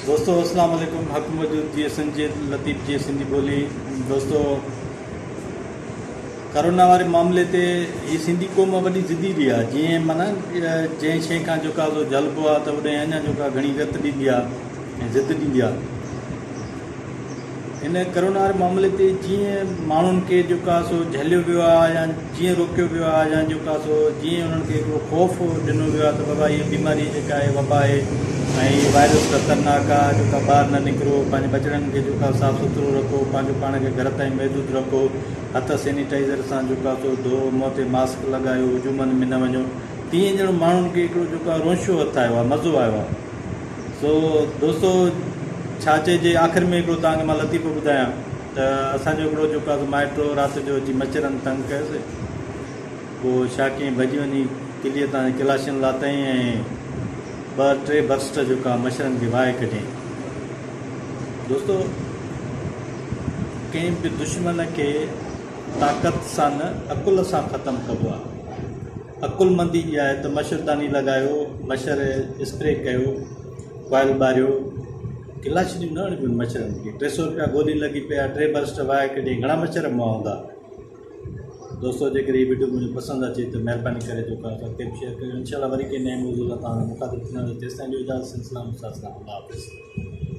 دوستو اسلام عليڪم حق موجود جي ايس اين جي لطيف جي سنڌي ٻولي دوستو ڪرونا واري معاملي تي هي سنڌي قوم وڏي ضدي ڏي آ جي معنی جنهن شيء کان جو ڪا جلبو آ ته اڏي اڃا جو ڪا گھڻي رت ڏيندي آ ۽ ضد ڏيندي آ هن ڪرونا واري معاملي تي جيئن ماڻهن کي جيڪو آهي سو جهليو ويو آهي يا جيئن روڪيو ويو آهي يا جيڪو آهي سو جيئن انهن کي هڪڙو خوف ڏنو ويو آهي ته بابا هي بيماري جيڪا آهي وبا آهي ۽ هي وائرس خطرناڪ آهي جيڪا ٻاهر نه نڪرو پنهنجي ٻچڙن کي جيڪو آهي صاف سٿرو رکو پنهنجو پاڻ کي گهر تائين محدود رکو هٿ سينيٽائيزر سان جيڪو آهي سو ڌوئو منهن تي ماسڪ لڳايو هجومن ۾ نه وڃو تيئن ڄڻ ماڻهن کي هڪڙو جيڪو آهي رونشو هٿ آيو آهي مزو آيو آهي سو دوستو ڇا چئجي آخر ۾ هڪڙو توهان کي مان لطيفو ٻڌايان ته اسان جو هڪڙو جيڪو آهي مائٽو رات جو اچي مچرن تنگ ڪيس پوء ڇا ڪيائين ڀڄي وڃي قلعي تان ڪلاشن لاتائين ۽ ٻه ٽي برسٽ جيڪا مچرن کي وهائي ڪڍيائين دوستو ڪنهن به دشمن کي طاقت سان نه عقل سان ختم ڪبو آهي عقلمندي جي آهي ته مشرداني لڳايو، مشر اسپري ڪيو، ڪوائل ٻاريو، ڪلاڇنيون نه هڻبيون مڇرن کي، ٽي سئو رپيا گولي لڳي پئي آهي، ٽي برسٽ وهائي ڪڍي گهڻا مڇر موئا هوندا. دوستو جيڪڏهن هي وڊيو منهنجو پسند اچي ته مهرباني ڪري جو ڪا ساٿي به شيئر ڪريو انشاء الله وري ڪنهن نئين موضوع سان توهان سان مخاطب ٿينداسين تيستائين جو اجازت سنسلام استاد سان الله حافظ.